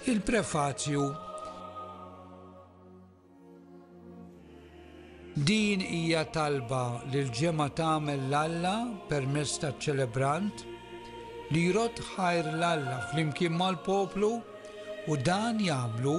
Il-prefazju Din hija talba li l-ġemgħa tagħmel l-Alla permezz taċ-ċelebrant li jrott ħajr l-Alla flimkien mal-poplu u dan jagħmlu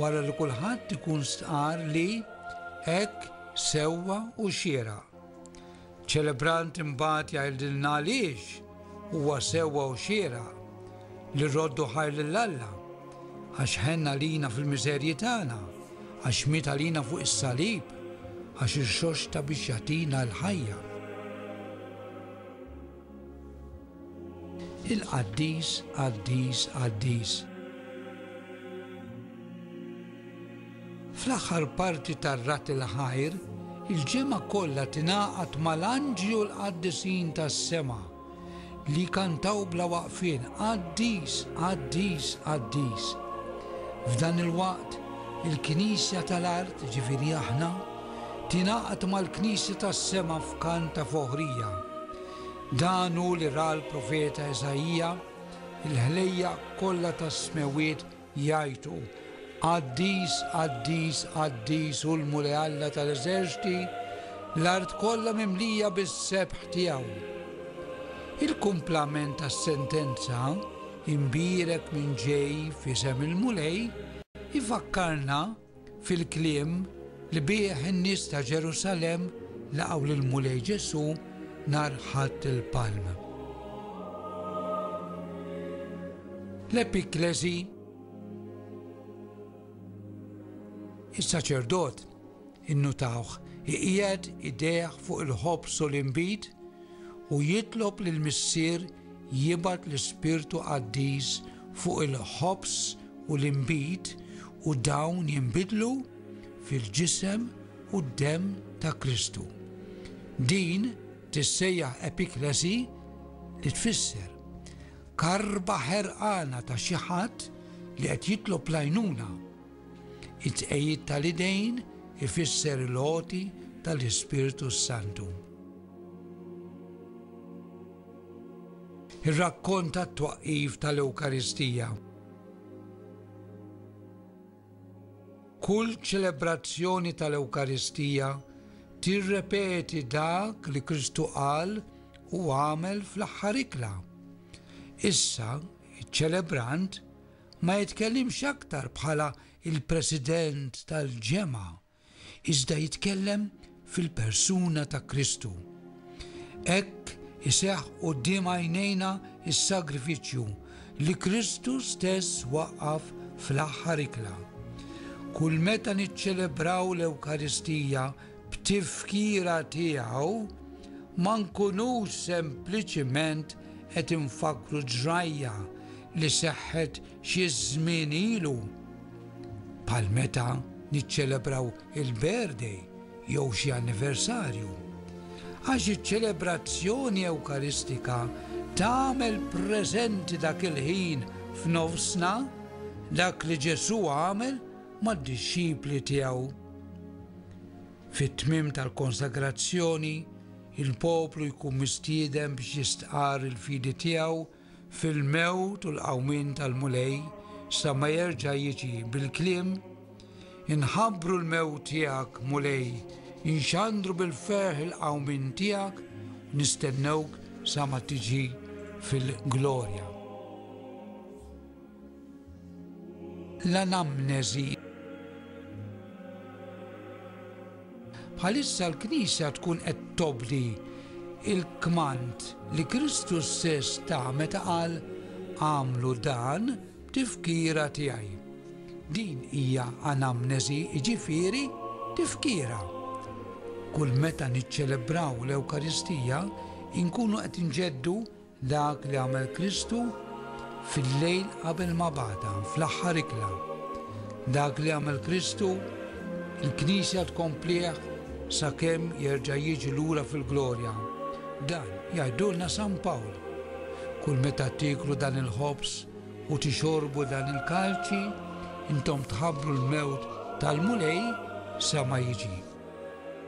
wara li kulħadd ikun stqar li hekk sewwa u xieraq. Ċelebrant imbagħad jgħidilna għaliex huwa sewwa u xieraq li rroddu ħajr lil Alla, għax ħenn għalina fil-miżerji tagħna, għax miet għalina fuq is-salib, għax irxoxta biex jagħtina l-ħajja. Il-Qaddis, Qaddis, Qaddis. Fl-aħħar parti tar-Rat il-Ħajr, il-ġemgħa kollha tingħaqad mal-anġli u l-qaddisin tas-sema li jkantaw bla waqfien, Qaddis, Qaddis, Qaddis. F'dan il-waqt, il-Knisja tal-art, ġifieri aħna, tingħaqad mal-Knisja tas-sema f'kant ta' foħrija. Dan hu li ra l-profeta Iżaija, Il-ħlejjaq kollha tas-smewwiet jgħajtu, 'Qaddis, qaddis, qaddis hu l-Mulej Alla tal-eżerċti, l-art kollha mimlija bis-sebħ tiegħu. Il-kumplament tas-sentenza, Imbierek min ġej f'isem il-Mulej, ifakkarna, fil-kliem li bih in-nies ta' Ġerusalemm laqgħu lill-Mulej Ġesù nhar Ħadd il-Palm. L-Epikklesi Is-saċerdot innutawh iqiegħed idejh fuq il-ħobż u l-inbid u jitlob lill-Missier jibgħat l-Ispirtu Qaddis fuq il-ħobż u l-inbid u dawn jinbidlu fil-Ġisem u d-Demm ta' Kristu. Din tissejjaħ Epiklesi li tfisser karba ħerqana ta' xi ħadd li qed jitlob l-għajnuna. It-tqegħid tal-idejn ifisser l-għoti tal-Ispirtu s-Santu. Ir-rakkont tat-twaqqif tal-Ewkaristija. Kull ċelebrazzjoni tal-Ewkaristija tirrepeti dak li Kristu qal u għamel fl-aħħar ikla. Issa, iċ-ċelebrant ma jitkellimx aktar bħala il-President tal-Ġemgħa iżda jitkellem fil-persuna ta' Kristu. Hekk iseħħ quddiem għajnejna s-sagrifiċċju li Kristu stess waqqaf fl-aħħar ikla. Kull meta niċċelebraw l-Ewkaristija b'tifkira tiegħu, ma nkunux sempliċiment qed infakkru ġrajja li seħħet Xi żmien ilu, bħal meta niċċelebraw il-birthday jew xi anniversarju, għax iċ-ċelebrazzjoni Ewkaristika tagħmel preżenti dak il-ħin f'nofsna dak li Ġesù għamel mad-dixxipli tiegħu. Fit-tmiem tal-konsagrazzjoni, il-poplu jkun mistieden biex jistqarr il-fidi tiegħu fil-mewt u l-qawmien tal-Mulej sa ma jerġa' jiġi bil-kliem, Inħabbru l-mewt tiegħek, Mulej, inxandru bil-ferħ il-qawmien tiegħek, u nistennewk sa ma tiġi fil-glorja. L-anamneżi Bħalissa l-Knisja tkun qed tobdi l-kmand li Kristu stess ta meta qal, Agħmlu dan b'tifkira tiegħi. Din hija anamnesi, jiġifieri tifkira. Kull meta niċċelebraw l-Ewkaristija, inkunu qed inġeddu Dak li għamel Kristu fil-lejl qabel ma bagħatha, fl-aħħar ikla. Dak li għamel Kristu, il-Knisja tkomplih sakemm jerġa' jiġi lura fil-glorja. Dan jgħidulna San Pawl. Kull meta tieklu dan il-ħobż u tixorbu dan il-kalċi, intom tħabbru l-mewt tal-Mulej sa ma jiġi.